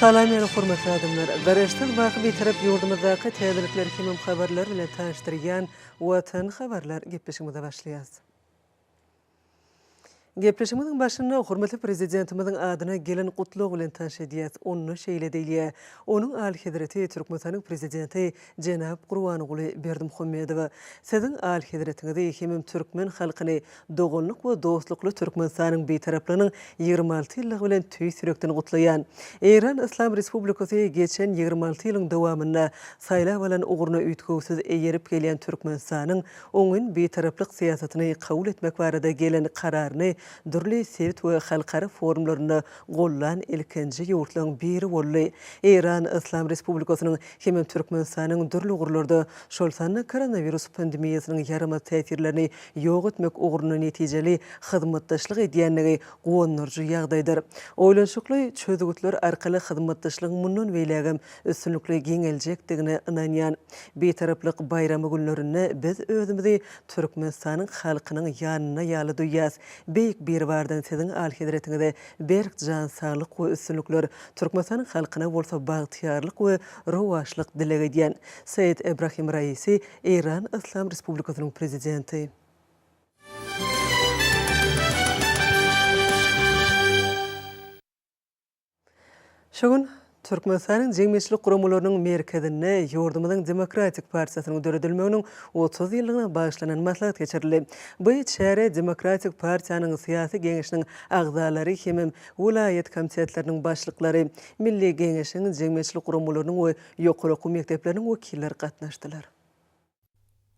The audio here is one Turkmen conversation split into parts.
Salam meni hormatly adamlar! Garaşsyz wagty bitarap ýurdumyzdaky täzelikler hemem habarlar bilen tanyşdyrýan Watan habarlar gepleşigimize başlaýas. Gepleşigimiziň başynda hormatly Prezidentimiziň adyna gelen gutlag bilen tanyş edýäs. Onda şeýle diýilýär, Onuň Alyhezreti Türkmenistanyň Prezidenti jenap Gurbanguly Berdimuhamedowa Siziň Alyhezretiňizi hemem türkmen halkyny Doganlyk we dostlukly Türkmenistanyň Bitaraplygynyň ýigrimi alty ýyllygy bilen tüýs ýürekden gutlaýan! Eýran Yslam Respublikasy geçen ýigrimi alty ýylyň dowamynda saýlap alan ugruna üýtgewsiz eýerip gelýän Türkmenistanyň oňyn Bitaraplyk syýasatyny kabul etmek barada gelen kararyny dürli sebit we halkara forumlarynda gollan ilkinji ýurtlaryň biri boldy. Eýran Yslam Respublikasynyň hemem Türkmenistanyň dürli ugurlarda, şol sanda koronawirus pandemiýasynyň ýaramaz täsirlerini ýok etmek ugrunda netijeli hyzmatdaşlyk edýändigi guwandyryjy ýagdaýdyr. Oýlanyşykly çözgütler arkaly hyzmatdaşlygyň mundan beýlägem üstünlikli giňeljekdigine ynanýan. Bitaraplyk baýramy günlerinde biz özümizi Türkmenistanyň halkynyň ýanynda ýaly duýýas. Beýik Biribardan Siziň Alyhezretiňize berk jan saglyk we üstünlikler, Türkmenistanyň halkyna bolsa bagtyýarlyk we rowaçlyk dileg edýän. Seýed Ebrahim Raisi Eýran Yslam Respublikasynyň Prezidenti. Şu gün Türkmenistanyň jemgyýetçilik guramalarynyň merkezinde ýurdumyzyň Demokratik partiýasynyň döredilmeginiň otuz ýyllygyna bagyşlanan maslahat geçirildi. Bu çärä Demokratik partiýanyň Syýasy Geňeşiniň agzalary hemem welaýat komitetleriniň başlyklary, Milli Geňeşiň, jemgyýetçilik guramalarynyň we ýokary okuw mekdepleriniň wekilleri gatnaşdylar.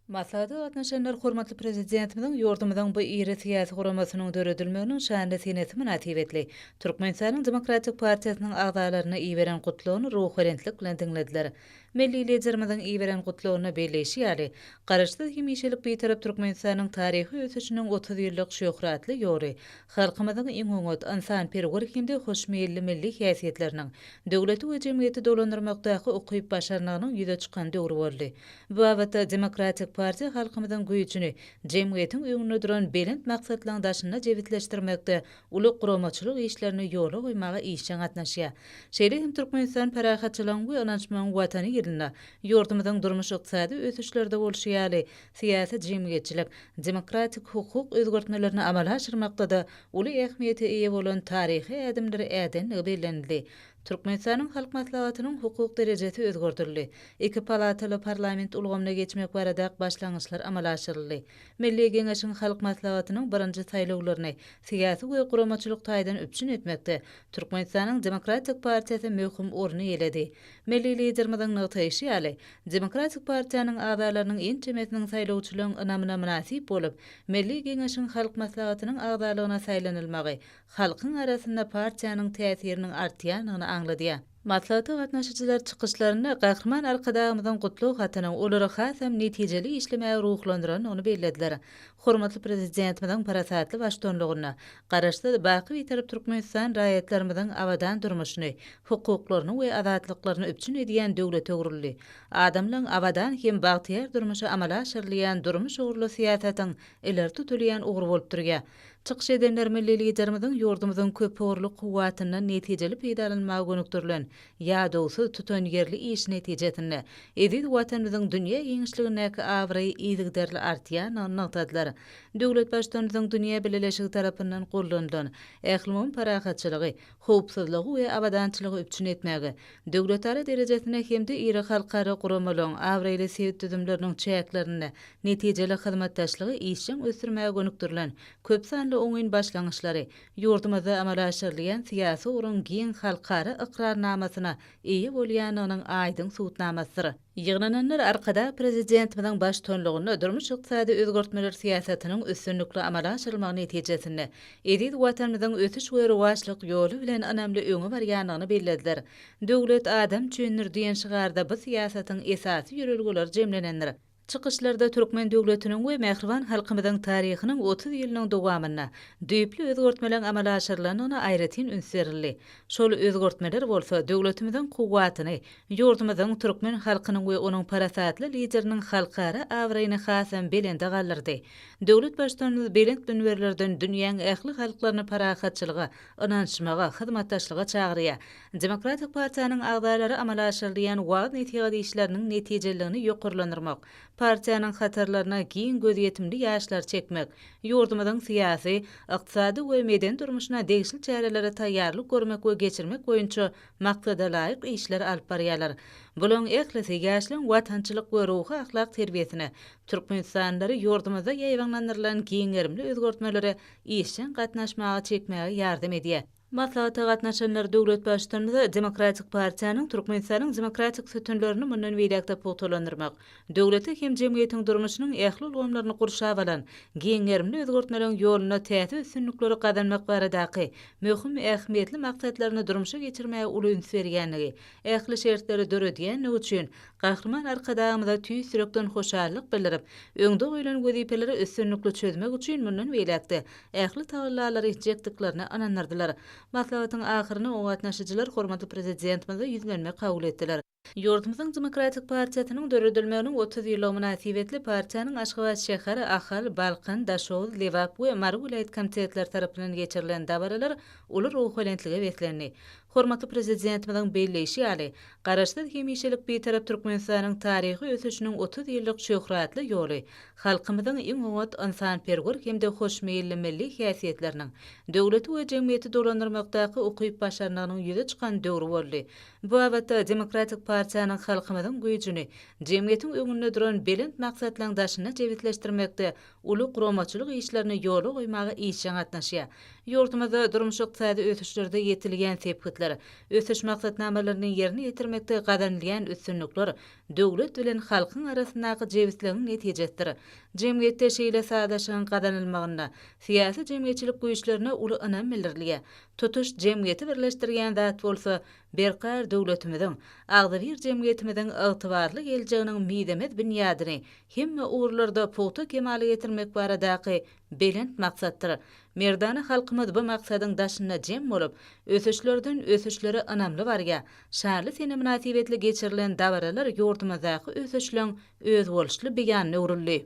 Maslahata gatnaşanlar hormatly Prezidentimiziň ýurdumyzyň bu iri syýasy guramasynyň döredilmeginiň şanly senesi mynasybetli Türkmenistanyň Demokratik partiýasynyň agzalaryna iberen Gutlagyny ruhubelentlik bilen diňlediler. Milli Liderimiziň iberen Gutlagynda belleýşi ýaly, Garaşsyz, hemişelik Bitarap Türkmenistanyň taryhy ösüşiniň otuz ýyllyk şöhratly ýoly Halkymyzyň iň oňat, ynsanperwer hem-de hoşmeýilli milli häsiýetleriniň, döwleti we jemgyýeti dolandyrmakdaky ukyp-başarnygynyň ýüze çykan döwri boldy. Bu babatda Demokratik partiýa halkymyzyň güýjüni jemgyýetiň öňünde duran belent maksatlaryň daşynda jebisleşdirmekde uly guramaçylyk işlerini ýola goýmaga işjeň gatnaşýar. Şeýle hem Türkmenistan parahatçylygyň we ynanyşmagyň Watany ýylynda ýurdumyzyň durmuş-ykdysady ösüşlerde bolşy ýaly, Syýasy jemgyýetçilik, demokratik hukuk özgertmelerini amala aşyrmakda-da uly ähmiýete eýe bolan taryhy ädimleri ädendigi bellenildi. Türkmenistanyň Halk Maslahatynyň hukuk derejesi özgerdildi. Iki palataly parlament ulgamyna geçmek baradak başlangyçlar amala aşyryldy. Milli Geňeşiň Halk Maslahatynyň birinji saýlawlaryny syýasy we guramaçylyk taýdan üpjün etmekde Türkmenistanyň Demokratik partiýasy möhüm orun eýeledi. Milli Liderimiziň nygtaýşy ýaly, Demokratik partiýanyň agzalarynyň ençemesiniň saýlawçylaryň ynamyna mynasyp bolup, Milli Geňeşiň Halk Maslahatynyň agzalygyna saýlanylmagy halkyň arasynda partiýanyň täsiriniň artýandygyny aňladýar. Maslahata gatnaşyjylar çykyşlarynda Gahryman Arkadagymyzyň gutlag hatynyň olary hasam netijeli işlemäge ruhlandyrandygyny bellediler. Hormatly Prezidentimiziň parasatly baştutanlygynda Garaşsyz, baky Bitarap Türkmenistan raýatlarymyzyň abadan durmuşyny, hukuklaryny we azatlyklaryny üpjün edýän döwletöwrüldi. Adamlaryň abadan hem bagtyýar durmuşy amala aşyrylýan durmuş ugurly syýasatyň ileri tutulýan ugry bolup durýar. Çykyş edenler milli Liderimiziň ýurdumyzyň köpugurly kuwwatyndan netijeli peýdalanmaga gönükdirilen ýadawsyz, tutanýerli işi netijesinde eziz Watanymyzyň dünýä giňişligindäki abraýy yzygiderli artýandygyny nygtadylar. Döwlet Baştutanymyzyň dünýä bileleşigi tarapyndan gollanylan, ählumumy parahatçylygy, howpsuzlygy we abadançylygy üpjün etmäge, döwletara derejesinde hem-de iri halkara guramalaryň, abraýly sebit düzümleriniň çäklerinde netijeli hyzmatdaşlygy işjeň ösdürmäge gönükdirilen köp sanly oňyn başlangyçlary ýurdumyzda amala aşyrylýan syýasy ugruň giň halkara ykrarnamasyna eýe bolýandygynyň aýdyň subutnamasydyr. Ýygnananlar Arkadag Prezidentimiziň baştutanlygynda durmuş-ykdysady özgertmeler syýasatynyň üstünlikli amala aşyrylmagy netijesinde eziz Watanymyzyň ösüş we rowaçlyk ýoly bilen ynamly öňe barýandygyny bellediler. Döwlet adam üçindir! diýen şygarda bu syýasatyň esasy ýörelgeleri jemlenendir. Çykyşlarda türkmen döwletiniň we mähriban halkymyzyň taryhynyň otuz ýylynyň dowamynda düýpli özgertmeleriň amala aşyrylandygyna aýratyn üns berildi. Şol özgertmeler bolsa döwletimiziň kuwwatyny, ýurdumyzyň, türkmen halkynyň we onuň parasatly Lideriniň halkara abraýyny hasam belende galdyrdy. Döwlet Baştutanymyz belent münberlerden dünýäň ähli halklaryny parahatçylyga, ynanyşmaga, hyzmatdaşlyga çagyrýar. Demokratik partiýanyň agzalary amala aşyrylýan waaz-nesihat işleriniň netijeliligini ýokarlandyrmak, partiýanyň hatarlaryna giň gözýetimli ýaşlary çekmek, ýurdumyzyň syýasy, ykdysady we medeni durmuşyna degişli çärelere taýýarlyk görmek we geçirmek boýunça maksadalaýyk işleri alyp barýarlar. Bularyň ählisi ýaşlaryň watançylyk we ruhy-ahlak terbiýesine, türkmenistanlylary ýurdumyzda ýaýbaňlandyrylan giň gerimli özgertmelere işjeň gatnaşmaga çekmäge ýardam edýär. Maslahata gatnaşanlar döwlet Baştutanymyza Demokratik partiýanyň Türkmenistanyň demokratik sütünlerini mundan beýläk-de pugtalandyrmak, döwleti hem jemgyýetiň durmuşynyň ähli ulgamlaryny gurşap alan giň gerimli özgertmeleriň ýolunda täze üstünlikleri gazanmak baradaky möhüm ähmiýetli maksatlaryny durmuşa geçirmäge uly üns berýändigi, ähli şertleri döredýändigi üçin Gahryman Arkadagymyza tüýs ýürekden hoşallyk bildirip, öňde goýlan wezipeleri üstünlikli çözmek üçin mundan beýläk-de ähli tagallalary etjekdiklerine ynandyrdylar. Maslahatyň ahyryny oňa gatnaşyjylar hormatly Prezidentimize ýüzlenme kabul etdiler. Ýurdumyzyň Demokratik partiýasynyň döredilmeginiň otuz ýyllygy mynasybetli partiýanyň Aşgabat şäher, Ahal, Balkan, Daşoguz, Lebap we Mary welaýat komitetleri tarapyndan geçirilen dabaralar uly ruhubelentlige beslendi. Hormatly Prezidentimiziň belleýşi ýaly, Garaşsyz, hemişelik Bitarap Türkmenistanyň taryhy ösüşiniň otuz ýyllyk şöhratly ýoly halkymyzyň iň oňat, ynsanperwer hem-de hoşmeýilli milli häsiýetleriniň, döwleti we jemgyýeti dolandyrmakdaky ukyp-başarnygynyň ýüze çykan döwri boldy. Bu babatda Demokratik partiýanyň halkymyzyň güýjüni jemgyýetiň öňünde duran belent maksatlaryň daşynda jebisleşdirmekde uly guramaçylyk işlerini ýola goýmaga işjeň gatnaşýar. Ýurdumyzda durmuş-ykdysady ösüşlerde ýetilýän sepgitler, ösüş maksatnamalaryny ýerine ýetirmekde gazanylýan üstünlikler döwlet bilen halkyň arasyndaky jebisligiň netijesidir. Jemgyýetde şeýle sazlaşygyň gazanylmagynda syýasy-jemgyýetçilik güýçlerine uly ynam bildirilýär. Tutuş jemgyýeti birleşdirýän zat bolsa Berkarar döwletimiziň, agzybir jemgyýetimiziň ygtybarly geljeginiň mizemez binýadyny hemme ugurlarda pugta kemala getirmek baradaky belent maksatdyr merdana halkymyz bu maksadyň daşynda jem bolup, ösüşlerden ösüşlere ynamly barýar. Şanly sene mynasybetli geçirilen dabaralar ýurdumyzdaky ösüşleň özboluşly beýanyna öwrüldi.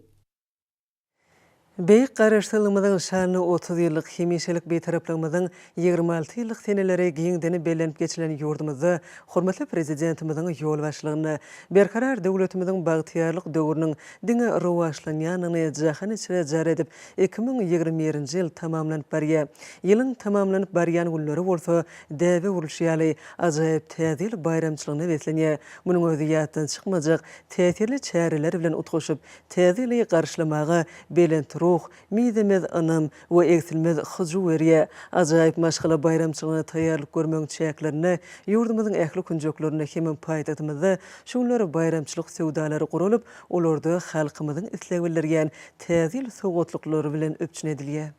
Beýik Garaşsyzlygymyzyň nyşanyna otuz ýyllyk, hemişelik Bitaraplygymyzyň ýigrimi alty ýyllyk seneleri giňden bellenip geçilen ýurdumyzda hormatly Prezidentimiziň ýolbaşçylygynda Berkarar döwletimiziň bagtyýarlyk döwrüniň diňe rowaçlanýandygyny jahan içre jar edip, iki müň ýigrimi birinji ýyl tamamlanyp barýar. Ýylyň tamamlanyp barýan günleri bolsa däbe urulşy ýaly, ajaýyp Täze ýyl baýramçylygyna beslenýär. Munuň özi ýatdan çykmajak täsirli çäreler bilen utgaşyp, Täze ýyly garşylamaga belent ruh, mizemez ynam we egsilmez hyjuw berýär. Ajaýyp maşgala baýramçylygyna taýýarlyk görmegiň çäklerinde ýurdumyzyň ähli künjeklerinde hemem paýtagtymyzda şu günler baýramçylyk söwdalary guralyp, olarda halkymyzyň islegi bildirýän Täze ýyl sowgatlyklary bilen üpjün edilýär.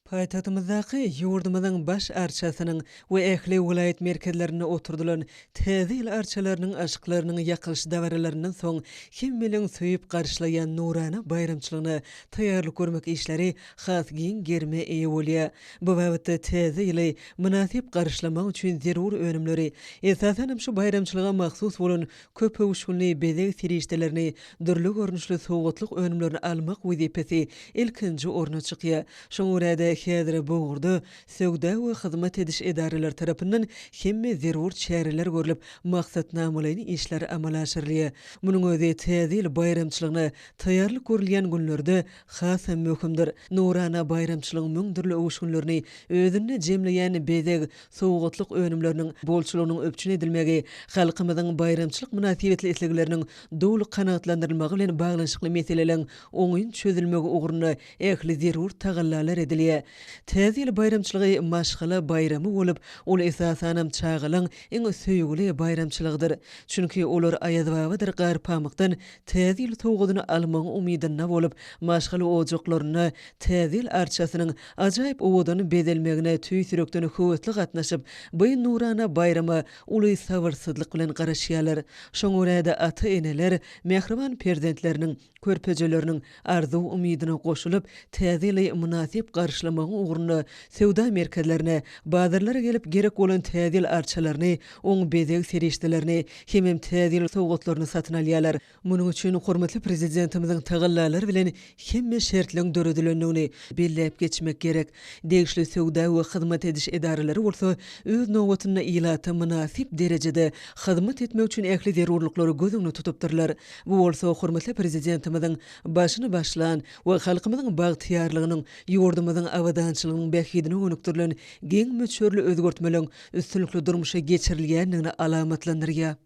Paýtagtymyzdaky ýurdumyzyň Baş arçasynyň we ähli welaýat merkezlerinde oturdylan Täze ýyl arçalarynyň aşyklarynyň ýakylyş dabaralaryndan soň hemmeleriň söýüp garşylaýan nurana baýramçylygyna taýýarlyk görmek işleri has giň gerime eýe bolýar. Bu babatda Täze ýyly mynasyp garşylamak üçin zerur önümleri, esasanam şu baýramçylyga mahsus bolan Köpöwüşginli bezeg serişdelerini, dürli görnüşli sowgatlyk önümlerini almak wezipesi ilkinji orna çykýar. Şoňa görä-de, häzir bu ugurda söwda we hyzmat ediş edaralary tarapyndan hemme zerur çäreler görlüp, maksatnamalaýyn işler amala aşyrylýar. Munuň özi Täze ýyl baýramçylygyna taýýarlyk görülýän günlerde has hem möhümdir. Nurana baýramçylygyň müň dürli öwüşginlerini özünde jemleýän bezeg, sowgatlyk önümleriniň bolçulygynyň üpjün edilmegi halkymyzyň baýramçylyk mynasybetli islegleriniň doly kanagatlandyrylmagy bilen baglanyşykly meseleleň oňyn çözülmegi ugrunda ähli zerur tagallalar edilýär. Täze ýyl baýramçylygy maşgala baýramy bolup, ol esasanam çagalaň iň söýgüli baýramçylygydyr. Çünki olar Aýazbabadyr gar pamykdan Täze ýyl sowgadyny almagyň umydynda bolup, maşgala ojaklarynda Täze ýyl arçasynyň ajaýyp owadan bezelmegine tüýs ýürekden höwesli gatnaşyp, bu nurana baýrama uly sabyrsyzlyk bilen garaşýarlar. Şoňa görä-de, ata-eneler mähriban perzentleriniň, körpejeleriniň arzuw-umydyna goşulyp, täze ýyly mynasyp garşylamagyň ugrunda söwda merkezlerine, bazarlara gelip gerek bolan täze ýyl arçalaryny, oň bezeg serişdelerini hemem täze ýyl sowgatlaryny satyn alýarlar. Munuň üçin hormatly Prezidentimiziň tagallalary bilen hemme şertleň döredilendigini belläp geçmek gerek. Degişli söwda we hyzmat ediş edaralary bolsa, öz nobatynda ilata mynasyp derejede hyzmat etmek üçin ähli zerurlyklary göz öňünde tutupdyrlar. Bu bolsa hormatly Prezidentimiziň başyny başlan we halkymyzyň bagtyýarlygynyň, ýurdumyzyň abadançylygynyň bähbidine gönükdirilen giň möçberli özgertmeleriň üstünlikli durmuşa geçirilýändigini alamatlandyrýar.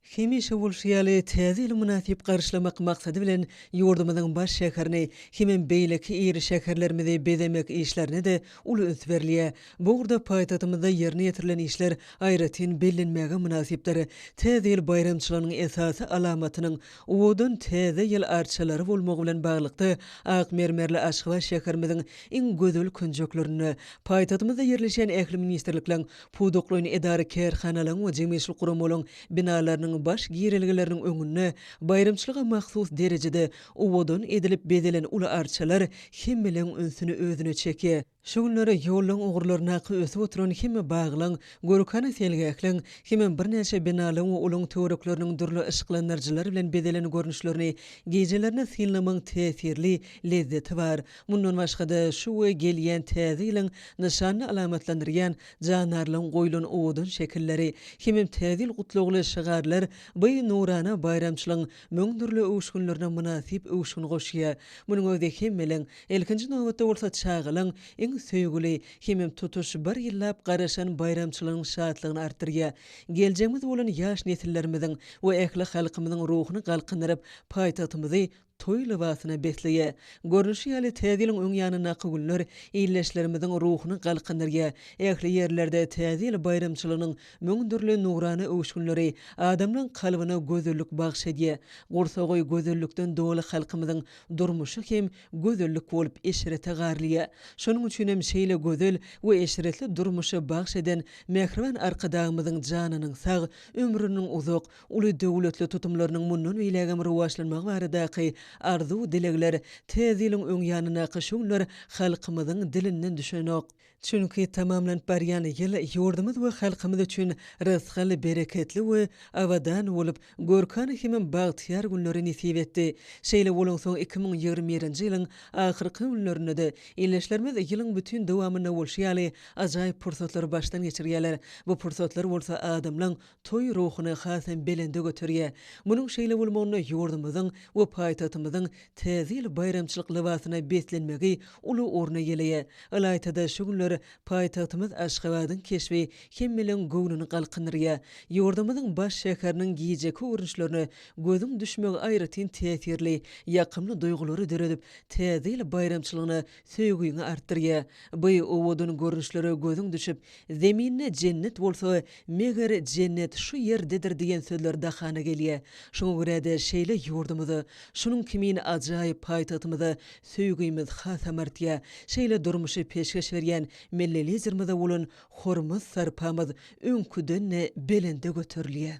Hemişe bolşy ýaly, Täze ýyly mynasyp garşylamak maksady bilen, ýurdumyzyň baş şäherini hemem beýleki iri şäherlerimizi bezemek işlerine-de uly üns berilýär. Bu ugurda paýtagtymyzda ýerine ýetirilen işler aýratyn bellenmäge mynasypdyr. Täze ýyl baýramçylygynyň esasy alamatynyň owadan Täze ýyl arçalary bolmagy bilen baglylykda, ak mermerli Aşgabat şäherimiziň iň gözel künjeklerinde, paýtagtymyzda ýerleşýän ähli ministrlikleriň, pudaklaýyn edara-kärhanalaryň we jemgyýetçilik guramalaryň binalarynyň baş girelgeleriniň öňünde baýramçylyga mahsus derejede owadan edilip bezelen uly arçalar hemmeleriň ünsüni özüne çekýär. Şu günler ýollaň ugurlaryndaky ösüp oturan hemme baglaň, görkana seýilgähleň, hemem birnäçe binalaň we olaň töwerekleriniň dürli yşyklandyryjylar bilen bezelen görnüşlerini gijelerine synlamaň täsirli lezzeti bar. Mundan başga-da, şu we gelýän Täze ýylyň nyşanyny alamatlandyrýan jandarlaň goýlan owadan şekilleri, hemem Täze ýyl gutlagly şygarlar bu nurana baýramçylygyň müň dürli öwüşginlerine mynasyp öwüşgin goşýar. Munuň özi hemmelin Ilkinji nobatda bolsa çagalaň iň söýgüli hemem tutuş bir ýyllap garaşan baýramçylygynyň şatlygyny artdyrýar. Geljegimiz bolan ýaş nesillerimiziň we ähli halkymyzyň ruhuny galkyndyryp, paýtagtymyzy toý lybasyna besleýär. Görnüşi ýaly, Täze ýylyň öň ýanyndaky günler ildeşlerimiziň ruhuny galkyndyrýar. Ähli ýerlerde Täze ýyl baýramçylygynyň müň dürli nurana öwüşginleri adamlaryň kalbyna gözellik bagyş edýär. Gursagy gözellikden doly halkymyzyň Durmuşy hem gözellik bolup eşrete garlýa. Şonuň üçinem şeýle gözel we eşretli durmuşy bagş eden mähriban Arkadagymyzyň janynyň sag, ömrüniň uzak, uly döwletli tutumlarynyň mundan beýlägem rowaçlanmagy baradaky arzuw-dilegler täze ýylyň öň ýanyndaky şu günler halkymyzyň dilinden düşenok. Çünki tamamlanyp barýan ýyl ýurdumyz we halkymyz üçin rysgal, bereketli we abadan bolup, görkana hemem bagtyýar günleri nesip etdi. Şeýle bolansoň, iki müň ýigrimi birinji ýylyň ahyrky günlerinde-de ildeşlerimiz ýylyň bütin dowamynda bolşy ýaly ajaýyp pursatlary başdan geçirýärler. Bu pursatlar bolsa adamlaň Toý ruhuny hasam belende göterýär. Munuň şeýle bolmagyna ýurdumyzyň we paýtagtymyzyň Täze ýyl baýramçylyk lybasyna beslenmegi uly orun eýeleýär. Ylaýta-da şu günler paýtagtymyz Aşgabadyň keşbi hemmeleriň göwnüni galkyndyrýar. Ýurdumyzyň baş şäheriniň gijeki görnüşlerine gözüň düşmegi aýratyn täsirli, ýakymly duýgulary döredip, Täze ýyl baýramçylygyna Söýgiňi artdyrýa. By owadan görnüşlere gözüň düşüp, Zeminde jennet bolsa, meger jennet şu ýerdedir diýen sözler dahana gelýä. Şoňa görä-de şeýle ýurdumyza, şunuň kimin ajaýyp paýtagtymyza söýgimiz hasam artýa. Şeýle durmuşy peşgeş berýän Milli Liderimize bolan hormat-sarpamyz öňküden-de belende göterilýä.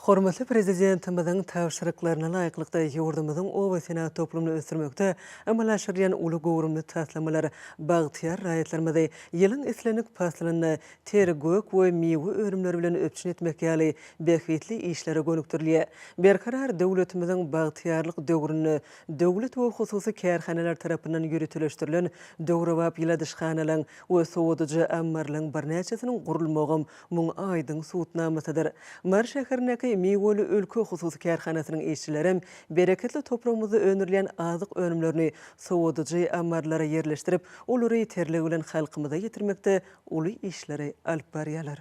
Hormatly Prezidentimiziň tabşyryklaryna laýyklykda, ýurdumyzyň obasenagat toplumyny ösdürmekde amala aşyrylýan uly göwrümli taslamalar bagtyýar raýatlarymyzy ýylyň islendik paslynda ter, gök we miwe önümleri bilen üpjün etmek ýaly bähbitli işlere gönükdirilýär. Berkarar döwletimiziň bagtyýarlyk döwründe döwlet we hususy kärhanalar tarapyndan ýöriteleşdirilen döwrebap ýyladyşhanalaryň we sowadyjy ammarlaryň birnäçesiniň gurulmagam Muň aýdyň subutnamasydyr. Mary şäherindäki Miweli ülke hususy kärhanasynyň işçilerem bereketli topragymyzda öndürilýän azyk önümlerini sowadyjy ammarlara ýerleşdirip, olary terligi bilen halkymyza ýetirmekde uly işleri alyp barýarlar.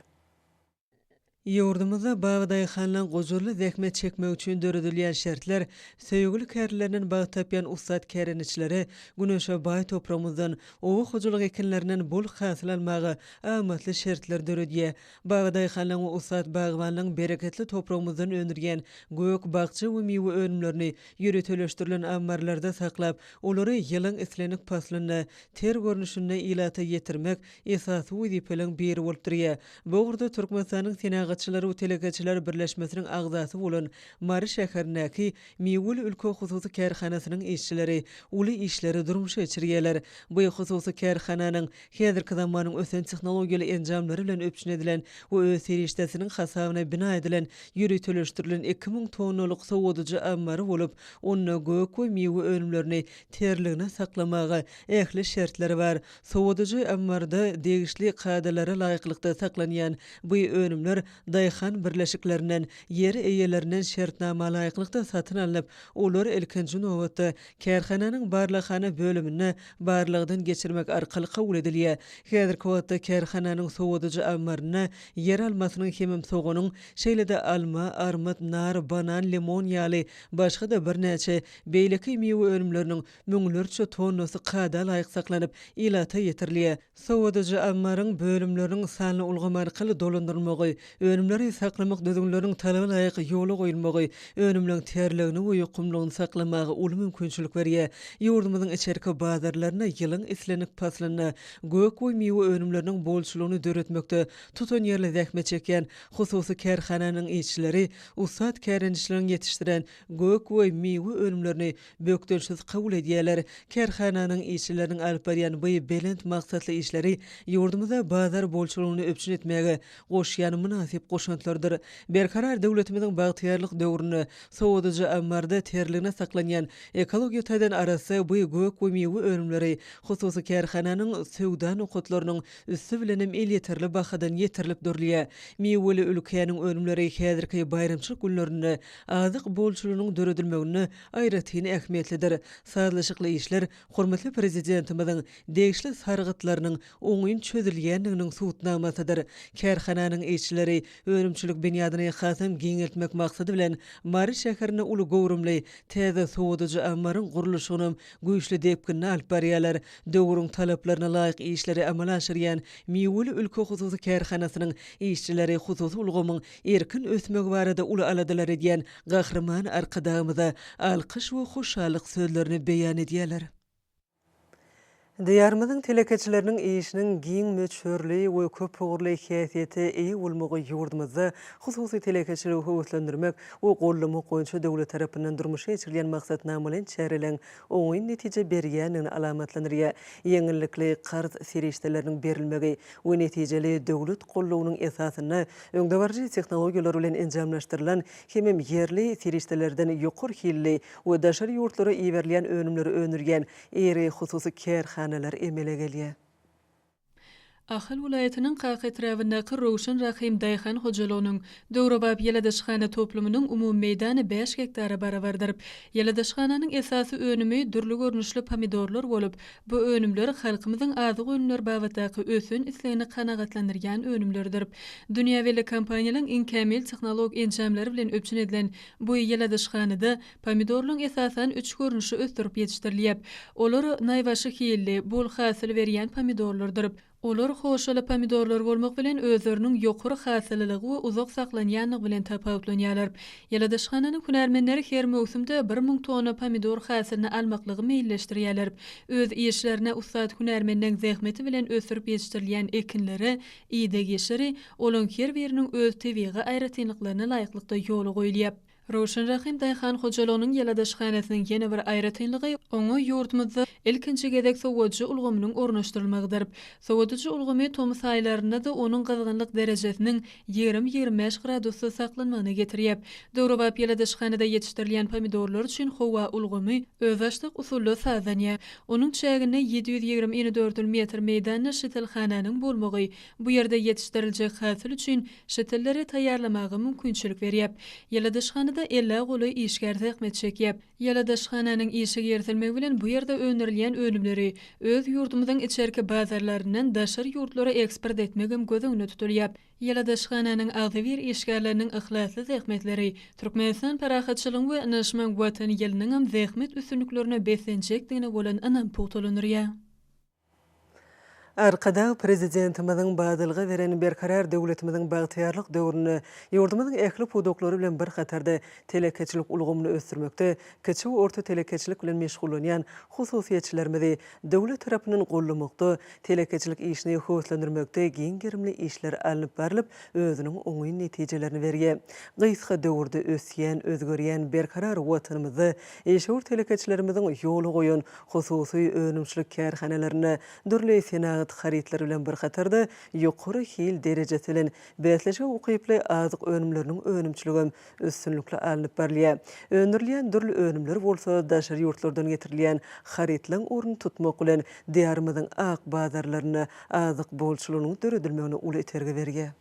Ýurdumyzda bagy-daýhanlygyň gujurly zähmet çekmegi üçin döredilýän şertler söýgüli kärlerinden bagt tapýan ussat kärendeçilere güneşe baý topragymyzdan, oba hojalyk ekinlerinden bol hasyl almaga, amatly şertler döredýär. Bagadaýhanlaryň we ussat bagbanlaryň bereketli topragymyzdan öndürýän gök, bakja we miwe önümlerini ýöriteleşdirilen ammarlarda saklap, olary ýylyň islendik paslynda ter görnüşinde ilata ýetirmek esasy wezipeleriň biri bolup durýar. Bu ugurda Türkmenistanyň Senagatçylar we telekeçiler birleşmesiniň agzasy bolan Mary şäherindäki Miweli ülke hususy kärhanasynyň işçileri uly işleri durmuşa geçirýärler. Bu hususy kärhananyň Häzirki zamanyň ösen tehnologiýaly enjamlary bilen üpjün edilen we öz serişdesiniň hasabyna bina edilen ýöriteleşdirilen iki müň tonnalyk sowadyjy ammary bolup, onda gök we miwe önümlerini terligine saklamaga ähli şertler bar. Sowadyjy ammarda degişli kadalara laýyklykda saklanýan bu önümler daýhan birleşiklerinden, ýer eýelerinden şertnamalaýyklykda satyn alnyp, olar ilkinji nobatda Kärhananyň barlaghana bölüminde barlagdan geçirmek arkaly kabul edilýär. Häzirki wagtda kärhananyň sowadyjy ammarynda ýer almasynyň hemem soganyň, şeýle-de alma, armyt, nar, banan, limon ýaly başga-da birnäçe beýleki miwe önümleriniň müňlerçe tonnasy kada laýyk saklanyp, ilata ýetirilýär. Sowadyjy ammaryň bölümleriniň sanly ulgam arkaly dolandyrylmagy, önümleri saklamak düzgünleriniň talaba laýyk ýola goýulmagy önümleň terligini we ýokumlygyny saklamaga uly mümkinçilik berýär. Ýurdumyzyň içerki bazarlaryna ýylyň islendik paslynda gök we miwe önümleriniň bolçulygyny döretmekde tutanýerli zähmet çekýän hususy kärhananyň işçileri ussat kärendeçileriň ýetişdiren gök we miwe önümlerini bökdençsiz kabul edýärler. Kärhananyň işçileriniň alyp barýan bu belent maksatly işleri ýurdumyzda bazar bolçulygyny üpjün etmäge goşýan mynasyp goşantlarydyr. Berkarar döwletimiziň bagtyýarlyk döwründe sowadyjy ammarda terligine saklanýan ekologiýa taýdan arassa bu gök we miwe önümleri hususy kärhananyň söwda nokatlarynyň üsti bilenem elýeterli bahadan ýetirilip durulýar. Miweli ülkäniň önümleri häzirki baýramçylyk günlerinde azyk bolçulygynyň döredilmeginde aýratyn ähmiýetlidir. Sazlaşykly işler hormatly Prezidentimiziň degişli sargytlarynyň oňyn çözülýändiginiň subutnamasydyr. Kärhananyň işçileri önümçilik binýadyny hasam giňeltmek maksady bilen, Mary şäherinde uly göwrümli täze sowadyjy ammaryň gurluşygynam güýçli depginde alyp barýarlar. Döwrüň talaplaryna laýyk işleri amala aşyrýan Miweli ülke hususy kärhanasynyň işçileri hususy ulgamyň erkin ösmegi barada uly aladalar edýän Gahryman Arkadagymyza alkyş we hoşallyk sözlerini beýan edýärler. Diýarymyzyň telekeçileriniň işiniň giň möçberli we köpugurly häsiýete eýe bolmagy ýurdumyzda hususy telekeçiligi höweslendirmek we gollamak boýunça döwlet tarapyndan durmuşa geçirilýän maksatnamalaýyn çäreleriň oňyn netije berýändigini alamatlandyrýar. Ýeňillikli karz serişdeleriniň berilmegi we netijeli döwlet goldawynyň esasynda öňdebaryjy tehnologiýalar bilen enjamlaşdyrylan hemem ýerli serişdelerden ýokary hilli we daşary ýurtlara iberilýän önümleri öndürýän iri hususy kärhanalar emele gelýär. Ahal welaýatynyň Kaka etrabyndaky Röwşen Rahym daýhan hojalygynyň döwrebap ýyladyşhana toplumynyň umumy meýdany bäş gektara barabardyr. Ýyladyşhananyň esasy önümi dürli görnüşli pomidorlar bolup, bu önümler halkymyzyň azyk önümleri babatdaky ösen islegini kanagatlandyrýan önümlerdir. Dünýä belli kompaniýalaryň iň kämil tehnolog enjamlary bilen üpjün edilen bu ýyladyşhanada Pomidorlaň esasan üç görnüşi ösdürip ýetişdirilýäp. Olar naýbaşy hilli, bol hasyl berýän pomidorlardyryp. Olar hoşaly pomidorlar bolmak bilen özleriniň ýokary hasyllylygy we uzak saklanýanlygy bilen tapawutlanýarlar. Ýyladyşhananyň hünärmenleri her möwsümde bir müň tonna pomidor hasylyny almaklygy meýilleşdirýärler. Öz işlerine ussat hünärmenleň zähmeti bilen ösdürip ýetişdirilýän ekinlere ideg-ýeşiri, olaň her biriniň öz tebigy aýratynlyklaryna laýyklykda ýola goýulýap. Röwşen Rahym daýhan hojalygynyň ýalydaşhanasynyň ýene bir aýratynlygy oňa ýurdumyzda ilkinji gezek sowadyjy ulgamynyň ornaşdyrylmagydyr. Sowadyjy ulgamy tomus aýlarynda-da onuň gyzgynlyk derejesiniň ýigrimi-ýigrimi bäş gradusda saklanmagyna getirýär. Döwrebap ýalydaşhanada ýetişdirilýän pomidorlar üçin howa ulgamy özbaşdak usulda sazlanýar. Onuň çäginde ýedi ýüz ýigrimi inedördül metr meýdanda şitilhananyň bolmagy bu ýerde ýetişdiriljek hasyl üçin Şittelleri taýýarlamaga mümkinçilik berýär. Ýyladyşhanada elli golaý işgär zähmet çekýär. Ýyladyşhananyň işe girizelmegi bilen bu ýerde öndürilýän önümleri öz ýurdumyzyň içerki bazarlaryndan daşary ýurtlara eksport etmegem göz öňünde tutulýar. Ýyladyşhananyň agzybir işgärleriniň yhlasly zähmetleri Türkmenistan parahatçylygyň we ynaşmaň Watany ýylynyňam zähmet üstünliklerine beslenjekdigine bolan ynamy pugtalandyrýar. Arkadag Prezidentimiziň badalga beren Berkarar döwletimiziň bagtyýarlyk döwründe ýurdumyzyň ähli pudaklary bilen bir hatarda telekeçilik ulgamyny ösdürmekde kiçi we orta telekeçilik bilen meşgullanýan hususyýetçilerimizi döwlet tarapyndan goldamakda, telekeçilik işini höweslendirmekde giň gerimli işler alnyp barlyp, özüniň oňyn netijelerini berýär. Gysga döwürde ösýän, özgerýän berkarar Watanymyzda Işewür telekeçilerimiziň ýola goýan hususy önümçilik kärhanalarynda dürli senagat harytlary bilen bir hatarda ýokary hil derejesi bilen bäsleşige ukyply azyk önümleriniň önümçiligem üstünlikli alnyp barylýar. Öndürilýän dürli önümler bolsa daşary ýurtlardan getirilýän harytlaryň ornuny tutmak bilen Diýarymyzyň ak bazarlarynda azyk bolçulygynyň döredilmegine uly itergi berýär.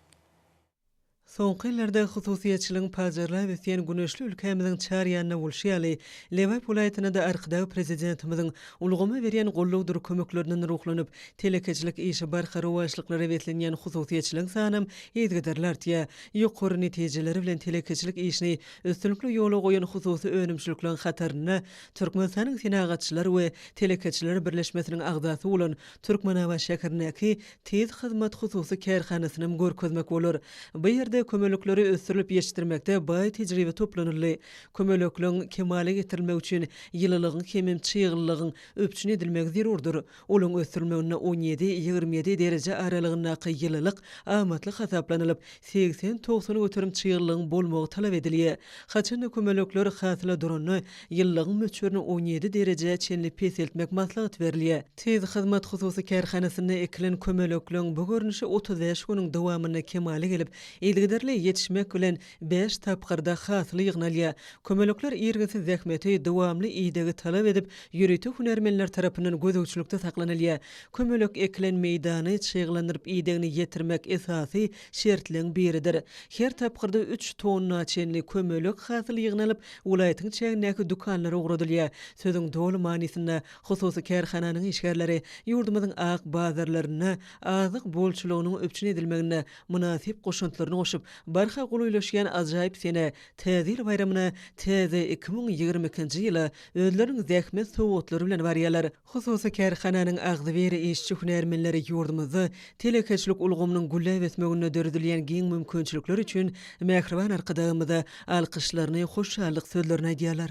Soňky ýyllarda hususyýetçiligiň pajarlap ösýän güneşli ülkämiziň çar ýanynda bolşy ýaly, Lebap welaýatynda-da Arkadag Prezidentimiziň ulgama berýän goldawdyr kömeklerinden ruhlanyp, telekeçilik işi barha rowaçlyklara beslenýän hususyýetçiligiň sanam yzgiderli artýar. Ýokary netijeleri bilen telekeçilik işini üstünlikli ýola goýan hususy önümçilikleriň hatarynda Türkmenistanyň Senagatçylar we telekeçiler birleşmesiniň agzasy bolan Türkmenabat şäherindäki Tiz hyzmat hususy kärhanasynam görkezmek bolar. Bu ýerde kömelekleri ösdürilip ýetişdirmekde baý tejribe toplanyldy. Kömelekleň kemala getirilmegi üçin ýylylygyň hemem çyglylygyň üpjün edilmegi zerurdyr. Olaň ösdürilmeginde on ýedi, ýigrimi ýedi dereje aralygyndaky ýylylyk amatly hasaplanylyp, Segsen-togsan göterim çyglygyň bolmagy talap edilýär. Haçan-da kömelekler hasyla duranda, ýyllygyň möçberini on ýedi derejä çenli peseltmek maslahat berilýär. Tiz hyzmat hususy kärhanasynda ekilen kömelekleň bu görnüşi otuz bäş günüň dowamynda kemala gelip, yzygiderli ýetişmek bilen, bäş tapgyrda hasyl ýygnalýar. Kömelekler irginsiz zähmeti, dowamly idegi talap edip, ýörite hünärmenler tarapyndan gözegçilikde saklanylýar. Kömelek ekilen meýdany çyglandyryp idegini ýetirmek esasy şertleň biridir. Her tapgyrda üç tonna çenli kömelek hasyl ýygnalyp, welaýatyň çägindäki dükanlara ugradylýar. Sözüň doly manysynda, hususy kärhananyň işgärleri ýurdumyzyň ak bazarlarynda azyk bolçulygynyň üpjün edilmeginde mynasyp goşantlaryny goşup, barha golaýlaşýan ajaýyp sene, Täze ýyl baýramyna, täze iki müň ýigrimi ikinji ýyla özleriniň zähmet sowgatlary bilen barýarlar. Hususy kärhananyň agzybir işçi-hünärmenleri ýurdumyzda telekeçilik ulgamynyň gülläp ösmeginde döredilýän giň mümkinçilikler üçin mähriban Arkadagymyza alkyşlaryny, hoşallyk sözlerini aýdýarlar.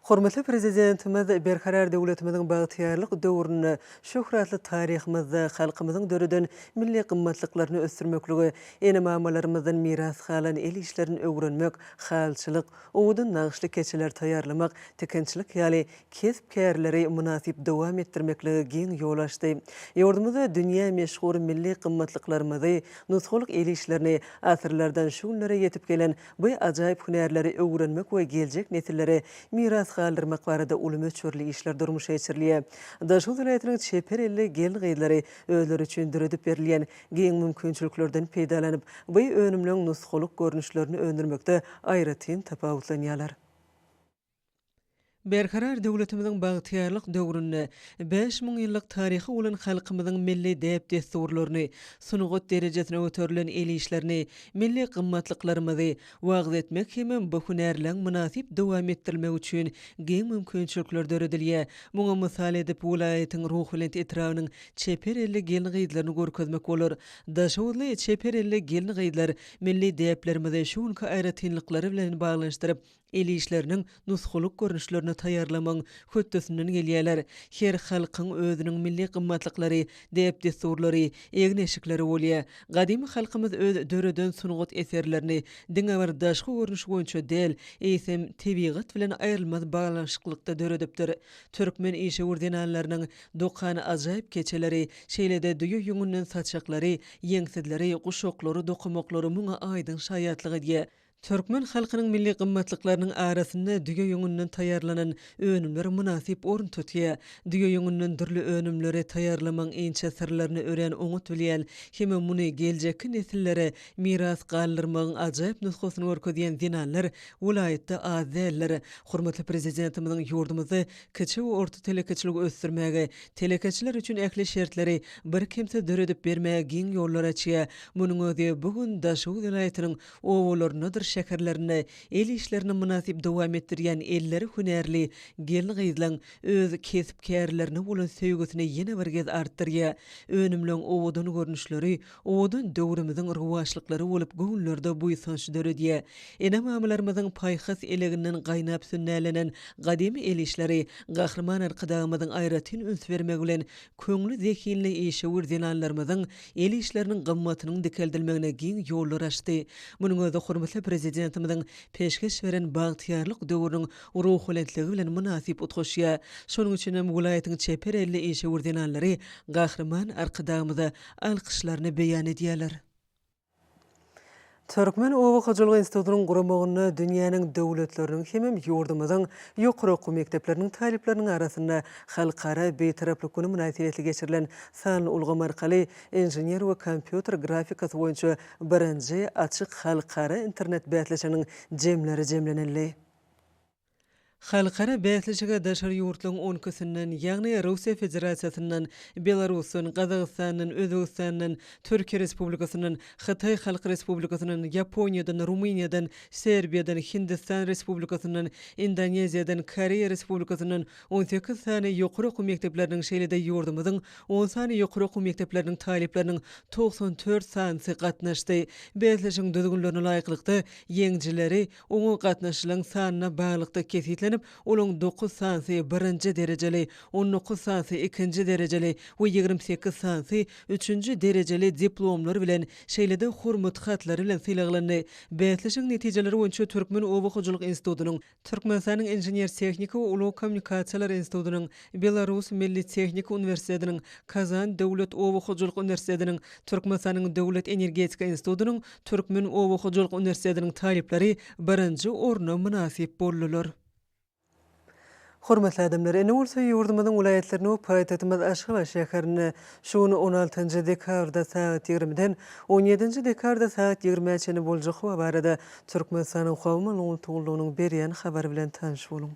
Hormatly Prezidentimiz Berkarar döwletimiziň bagtyýarlyk döwründe, şöhratly taryhymyzda halkymyzyň döreden milli gymmatlyklaryny ösdürmeklige, ene-mamalarymyzdan miras galan el işlerini öwrenmek, halçylyk, owadan nagyşly keçeler taýýarlamak, tikinçilik ýaly kesp-kärleri mynasyp dowam etdirmeklige giň ýol açdy. Ýurdumyzda dünýä meşhur milli gymmatlyklarymyzy, nusgalyk el işlerini, asyrlardan şu günlere ýetip gelen bu ajaýyp hünärleri öwrenmek we geljek nesillere miras galdyrmak barada uly möçberli işler durmuşa geçirilýär. Daşoguz welaýatynyň çeper elli gelin-gyzlary özleri üçin döredip berilýän giň mümkinçiliklerden peýdalanyp, bu önümleň nusgalyk görnüşlerini öndürmekde aýratyn tapawutlanýarlar. Berkarar döwletimiziň bagtyýarlyk döwründe bäş müň ýyllyk taryhy bolan halkymyzyň milli däp-dessurlaryny, sungat derejesine göterilen el işlerini, milli gymmatlyklarymyzy wagyz etmek hemem bu hünärleň mynasyp dowam etdirilmegi üçin giň mümkinçilikler döredilýär. Muňa mysal edip, welaýatyň Ruhubelent etrabynyň çeper elli gelin-gyzlaryny görkezmek bolar. Daşoguzly çeper elli gelin-gyzlar milli däplerimizi şu günki aýratynlyklary bilen baglanyşdyryp, El işleriniň nusgalyk görnüşlerini taýýarlamagyň hötdesinden gelýärler. Her halkyň özüniň milli gymmatlyklary, däp-dessurlary, egin-eşikleri bolýar. Gadymy halkymyz öz döreden sungat eserlerini diňe bir daşky görnüşi boýunça däl, eýsem, tebigat bilen aýrylmaz baglanyşyklykda döredipdir. Türkmen işewür zenanlarynyň dokan ajaýyp keçeleri, şeýle-de düýe ýüňünden saçaklary, ýeňsizleri, guşaklary dokamaklary muňa aýdyň şaýatlyk edýär. Türkmen halkynyň milli gymmatlyklarynyň arasynda düýe ýüňünden taýýarlanan önümler mynasyp orun tutýar. Düýe ýüňünden dürli önümleri taýýarlamagyň inçe syrlaryny örän oňat bilýän hem-ä muny geljekki nesillere miras galdyrmagyň ajaýyp nusgasyny görkezýän zenanlar welaýatda az däldir. Hormatly Prezidentimiziň ýurdumyzda kiçi we orta telekeçiligi ösdürmäge, telekeçiler üçin ähli şertleri birkemsiz döredip bermäge giň ýollar açýar. Munuň özi bu gün Daşoguz welaýatynyň obalaryndadyr şäherlerinde el işlerini mynasyp dowam etdirýän elleri hünärli gelin-gyzlaň öz kesp-kärlerine bolan söýgüsini ýene bir gez artdyrýar. Önümleň owadan görnüşleri owadan döwrümiziň rowaçlyklary bolup göwünlerde buýsanç döredýär. Ene-mamalarymyzyň paýhas eleginden gaýnap sünnälenen gadymy el işleri Gahryman Arkadagymyzyň aýratyn üns bermegi bilen Köňli zehinli işewür zenanlarymyzyň el işleriniň gymmatynyň dikeldilmegine giň ýollar açdy. Munuň özi hormatly Prezidentimiziň peşgeş beren bagtyýarlyk döwrüniň ruhulentligi bilen mynasyp utgaşýar. Şonuň üçin hem welaýatyň çeper elli işewür zenanlary Gahryman Arkadagymyza alkyşlaryny beýan edýärler. Türkmen oba hojalygy institutynyň guramagynda dünýäniň döwletleriniň hemem ýurdumyzyň ýokary okuw mekdepleriniň talyplarynyň arasynda Halkara Bitaraplyk güni mynasybetli geçirilen sanly ulgam arkaly Inžener we kompýuter grafikasy boýunça birinji açyk halkara internet bäsleşiginiň jemleri jemlenildi. Halkara bäsleşige daşary ýurtlaryň on ikisinden, ýagny Russiýa Federasiýasyndan, Belarusdan, Gazagystandan, Özbegistandan, Türkiýe Respublikasyndan, Hytaý Halk Respublikasyndan, Ýaponiýadan, Rumyniýadan, Serbiýadan, Hindistan Respublikasyndan, Indoneziýadan, Koreýa Respublikasyndan on sekiz sany ýokary okuw mekdepleriniň, şeýle-de ýurdumyzyň on sany ýokary okuw mekdepleriniň talyplarynyň togsan dört sanysy gatnaşdy. Bäsleşigiň düzgünlerine laýyklykda, ýeňijileri, Oňa gatnaşylaryň sanyna baglykda kesgitlenip, olaryň dokuz sanysy birinji derejeli, on dokuz sanysy ikinji derejeli we ýigrimi sekiz sanysy üçünji derejeli diplomlar bilen, şeýle-de Hormat hatlary bilen sylaglandy. Bäsleşigiň netijeleri boýunça Türkmen oba hojalyk institutynyň, Türkmenistanyň Inžener-tehniki we ulag kommunikasiýalary institutynyň, Belarus milli tehniki uniwersitetiniň, Kazan döwlet oba hojalyk uniwersitetiniň, Türkmenistanyň Döwlet energetika institutynyň Türkmen oba hojalyk uniwersitetiniň talyplary birinji orna mynasyp boldular. Hormatly adamlar, indi bolsa ýurdumyzyň welaýatlaryny we paýtagtymyz Aşgabat şäherini şu gün on altynjy dekabrda sagat ýigrimiden on ýedinji dekabrda sagat ýigrimä çenli boljak howa barada Türkmenistanyň Howa maglumat gullugynyň berýän habary bilen tanyş boluň.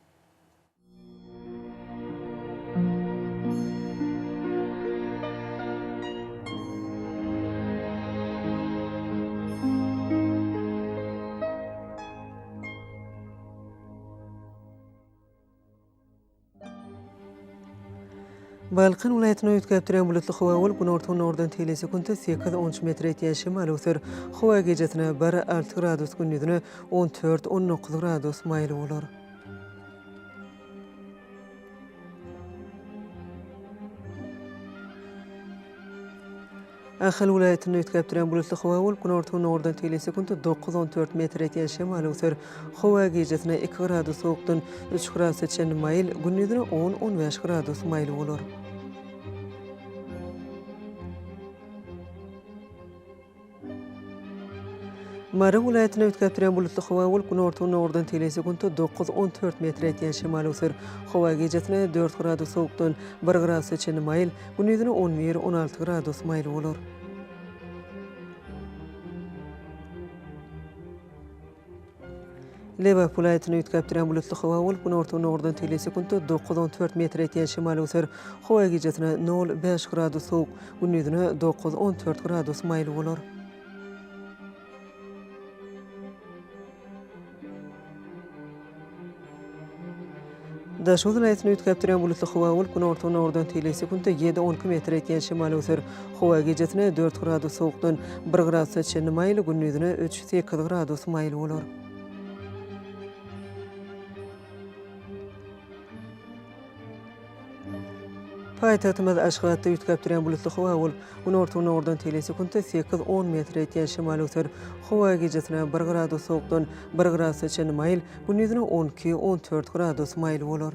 Balkan welaýatyny üýtgäp duran bulutly howa bolup, günorta-günordan teýelli sekuntda sekiz, on üç metr ýetýän şemal öwser. Howa gijasine bir, alty gradus, gündizine on dört, on dokuz gradus maýyl bolar. Ahal welaýatynda üýtgäp duran bulutly howa bolup, günorta-gündogardan tegelýän sekuntda dokuz, on dört metr ýetýän şemal öwser. Howa gijasine iki gradus sowukdan üç gradusa çenli maýyl, gündiziň on, on bäş gradus maýyl bolar. Mary welaýatyny üýtgäp durýan bulutly howa bolup, günorta-gündogardan tele sekuntda dokuz, on dört metr ýetýän şemal öwser. Howa gijesine dört gradus sowukdan bir gradusa çenli maýyl, gündizine on bir, on alty gradus maýyl bolar. Lebap welaýatyny üýtgäp durýan bulutly howa bolup, günorta-gündogardan tegelýän sekuntda dokuz, on dört metre ýetýän şemal öser. Howa gijesine nol, bäş gradus sowuk, gündizine dokuz, on dört gradus maýyl bolar. Daşoguz welaýatyny üýtgäp durýan bulutly howa bolup, günorta-günordan teýle sekuntda ýedi-onki metr etýän şemal öser. Howa gijesine dört gradus sowukdan bir gradusa çenli maýyl, gündizine üç-sekiz gradus maýyl bolar. Paýtagtymyz Aşgabatda üýtgäp durýan bulutly howa bolup, günorta-gündogardan tele sekuntda sekiz, on metr ýetýän şemal öser. Howa gijesine bir gradus sowukdan bir gradusa çenli maýyl, gündiziň on iki, on dört gradus maýyl bolar.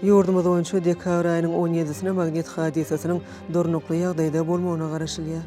Ýurdumyz boýunça dekabr aýynyň on ýedisine magnit hadysasynyň durnukly ýagdaýda bolmagyna garaşylýar.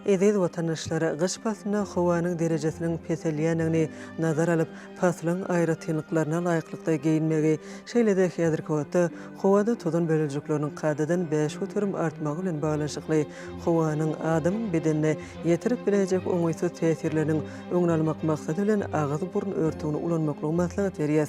Eziz watandaşlar, gyş paslynda howanyň derejesiniň peselýändigini nazar alyp, paslyň aýratynlyklaryna laýyklykda geýinmegi, şeýle-de häzirki wagtda howada tozan bölejikleriniň kadadan bäş göterim artmagy bilen baglanyşykly howanyň adamyň bedenine ýetirip biläýjek oňaýsyz täsirleriniň öňüni almak maksady bilen agyz-burun örtügini ulanmaklygy maslahat berýär.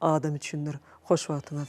Adam üçindir. Hoş wagtyňyz.